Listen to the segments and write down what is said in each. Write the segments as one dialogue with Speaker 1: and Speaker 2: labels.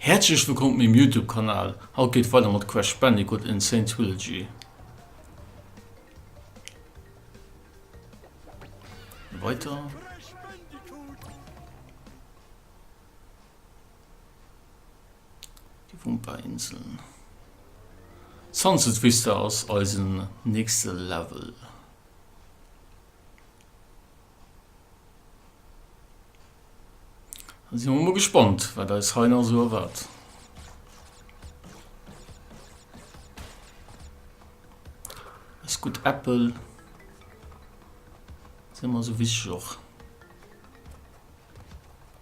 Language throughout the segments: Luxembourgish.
Speaker 1: Häerzlech wëllkomm op mengem Youtube Kanal, haut geet et weider mat Crash Bandicoot N. Sane Trilogy. Weiter. Déi Wumper-Inseln. Sunset Vista ass eisen nächste Level. Da si mer mol gespannt, wat eis hei nach esou erwaart. Eis gutt Äppel si mer esou wichteg och.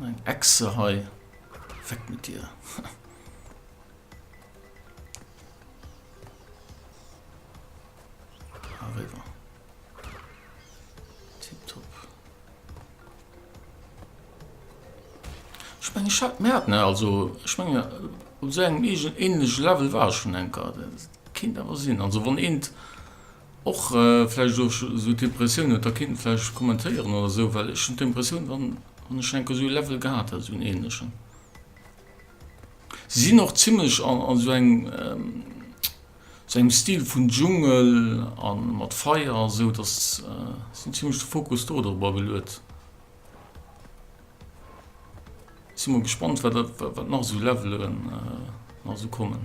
Speaker 1: Eng Echse hei. Weg mit dir. Arriver. Tipptopp. Ich meine, ich hab mehr, ne? Also, ich meine, äh, so ein ähnlich Level war schon ein Kader. Kinder was sind. Also, wenn ein Och vläicht och esou d'Impressioun, huet da keen vläicht kommentéieren oder esou, well ech hunn d'Impressioun, wann wann ech enke esou e Level gehat hätt, esou en ähnlechen. Si sinn och zimlech an an esou engem esou engem Stil vun Dschungel a mat Feier a sou, datt si hunn zimlech de Fokus do dorobber geluet. Sinn mol gespannt, wat nach esou Levelen nach esou kommen.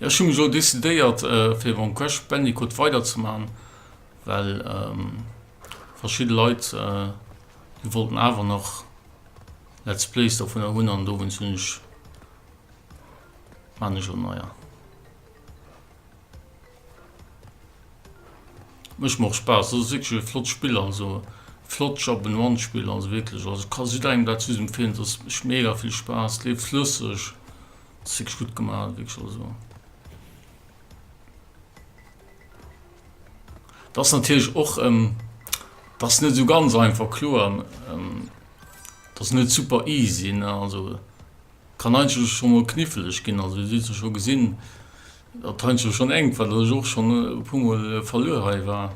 Speaker 1: Ja ech hu mech elo decidéiert fir mam Crash Bandicoot weider ze man, well verschidde Leit déi wollten awer nach Let's Plays dovunner hunn an dowéinst hunn ech man ech elo neier. Mécht mer och Spaass. Ass wierklech ee flott Spill an esou flott Jump and Run Spill. Also wierklech, also kann jidderengem dat just empfehlen. Et ass, mécht mega vill Spaass, leeft flësseg, ass wierklech gutt gemaach, wierklech also. Et ass natierlech och, et ass net esou ganz einfach, kloer. Et ass net super easy, ne, also kann eigentlech scho mol kniffeleg ginn. Also Dir hutt jo scho gesinn. Dat hei ass jo schonn enk, well dat ech och schonn e puer mol verluer hei war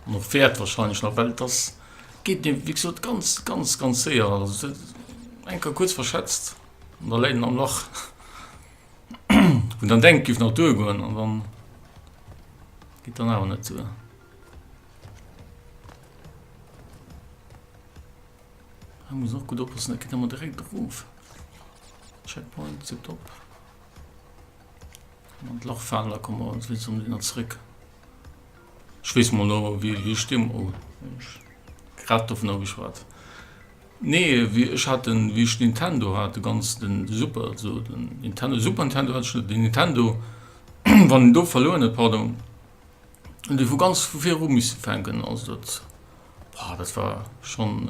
Speaker 1: an och wäert wahrscheinlech nach, well et ass, geet mir wéi gesot ganz, ganz, ganz séier, also eng Kéier kuerz verschätzt an da läit en am Lach, wou en dann denkt, géif nach duergoen an dann geet dann awer net duer. Hei muss een och gutt oppassen, dat geet ëmmer direkt erof. Checkpoint tiptop. An d'Lach faalen, da kommen mer an d'Witz um Dinner zréck. Ech weess mol no wéi wéi Stimm oh ech grad dovun ageschwat. Nee wéi ech hat den wéi ech Nintendo hat de ganz den de Super so den Nintendo Super Nintendo hat ech net den Nintendo wann en do verluer huet pardon hunn déi vu ganz vu viru misse fänken also dat ah dat war schonn.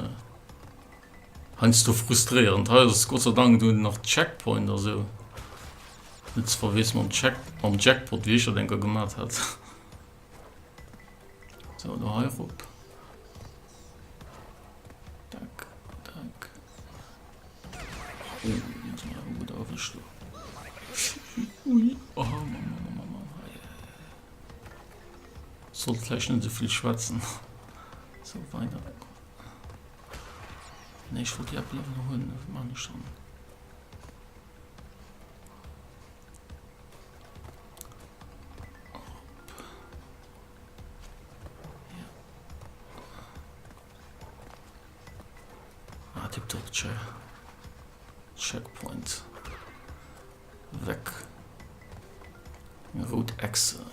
Speaker 1: Heiansdo frustréierend. Hei ass Gott sei Dank dunn nach Checkpoint a sou. Net ze verwiesselen mam Check, mam Jackpot, wéi ech dat eng Kéier gemat hat. Sou, do hei rop. Dack, dack. Oh, dat war awer gutt erwëscht do. Ui, oh, Mann, Mann, Mann, Mann, Mann. Hei, hei, hei. Sollt vläicht net esou vill schwätzen. Sou, weider. Nee, ech wollt déi App elo hunn, mee wat maachen ech dann? Checkpoint weg Root Exe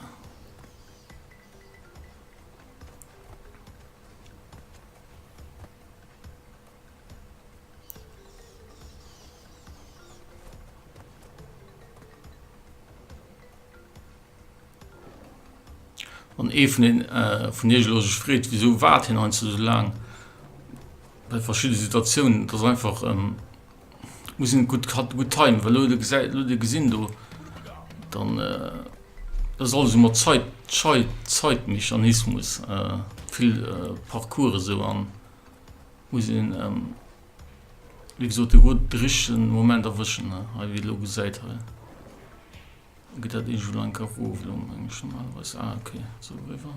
Speaker 1: an ee vun den äh, vun Iech lo sech freet, wieso waart hien ein so lang bei verschiedene Situatiounen, das einfach ähm, muss en gutt hat gutt Time well de gesäit lo de gesinn do dann ass alles mat Zait Zait Zaitmechanismus vill Parcours esou an muss een wéi gesot de gutt de richtegen Moment erwëschen ne hei wéi lo gesäit hei gëtt dat eesch elo enker erof lo mengen ech normalerweis ah ok sou eriwwer.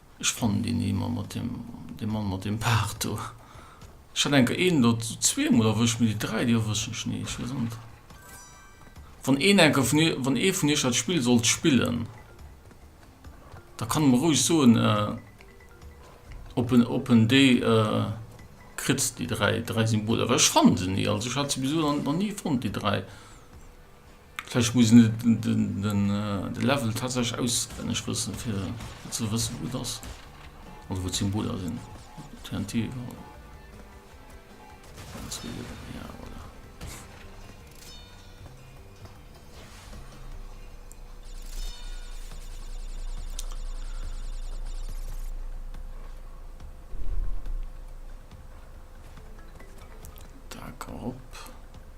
Speaker 1: Ech fannen deen ee mer mat dem, dee Mann mat deem Baart do, ech hat enker een elo zweemol erwëscht, mee déi dräi, déi erwëschen ech ni, ech weess och net. Wann een enker vun iech, wann ee vun iech dat Spill sollt spillen, da kann e mer roueg soen, ob en, ob en déi kritt, déi dräi, dräi Symboler, well ech fanne se ni. Also ech hat se bis elo nach ni fonnt, déi dräi. Vläicht muss een de Level tatsächlech auswenneg wëssen, fir ze wëssen, wou et ass oder wou d'Symboler sinn. TNT, voilà.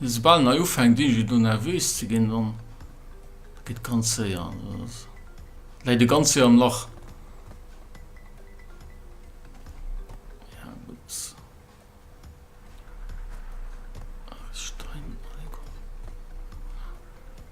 Speaker 1: Soubal en hei ufänkt iergend do nervös ze ginn, dann geet ganz séier, läit e ganz séier am Lach. Ja, gut. Stein,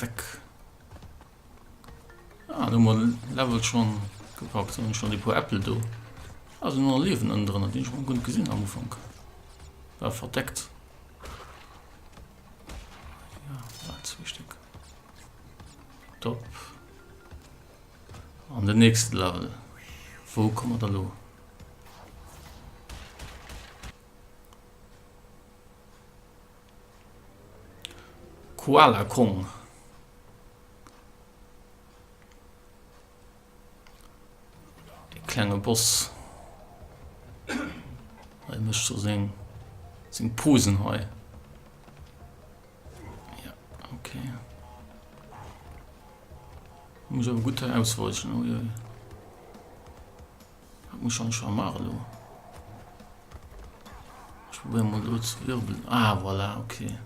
Speaker 1: Weg. Ah, du mal Level schon gepackt, sondern schon die paar Äpfel do. Also nur Leben innen drin, die ich schon gut gesehen am Anfang. War verdeckt. Ja, war zwei Stück. Top. An den nächsten Level. Wo kommen wir da los? Koala Kong E klenge Boss Hei mécht scho seng seng Posen hei Ja ok Muss awer gutt hei ausweichen, uiuiui Dat muss schon schon machen lo. Ich probiere mal lo zu wirbeln. Ah, voilà, okay.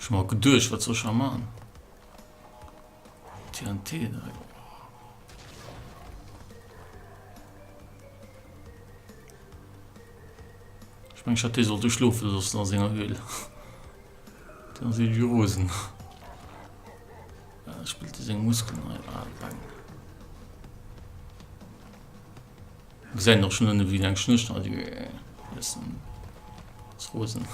Speaker 1: Ich mal gedurcht, was soll ich schon machen? TNT direkt. Ich meine, ich hatte sollte schlufen, sonst noch Singer will. Dann sind die Rosen. Äh, spielt er seine Muskeln rein. Ah, bang. Wir sehen doch schon eine wie lang Schnürchen hat. Das sind das Rosen.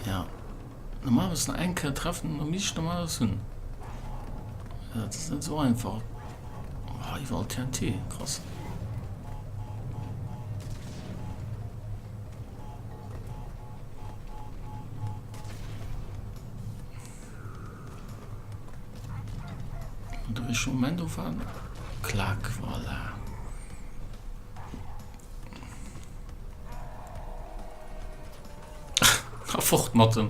Speaker 1: Ja. Normal muss noch eng Kër treffen, um ich normal alles hunn. Ja, das ist nicht so einfach. Oh, überall TNT, krass. Moment auf an. Klack, voilà. Ah, fort mat dem.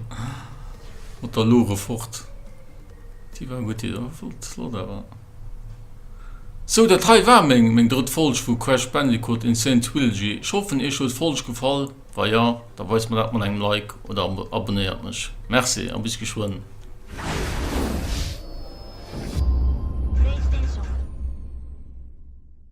Speaker 1: Mat der Lore fort. Déi war gutt, déi war flott, flott awer. So, dat hei war meng, meng drëtt Folg vu Crash Bandicoot Insane Trilogy. Ech hoffen, Iech huet d'Folg gefall. Wa ja, da weist mer dat mat engem Like oder abonnéiert mech. Merci a bis geschwënn.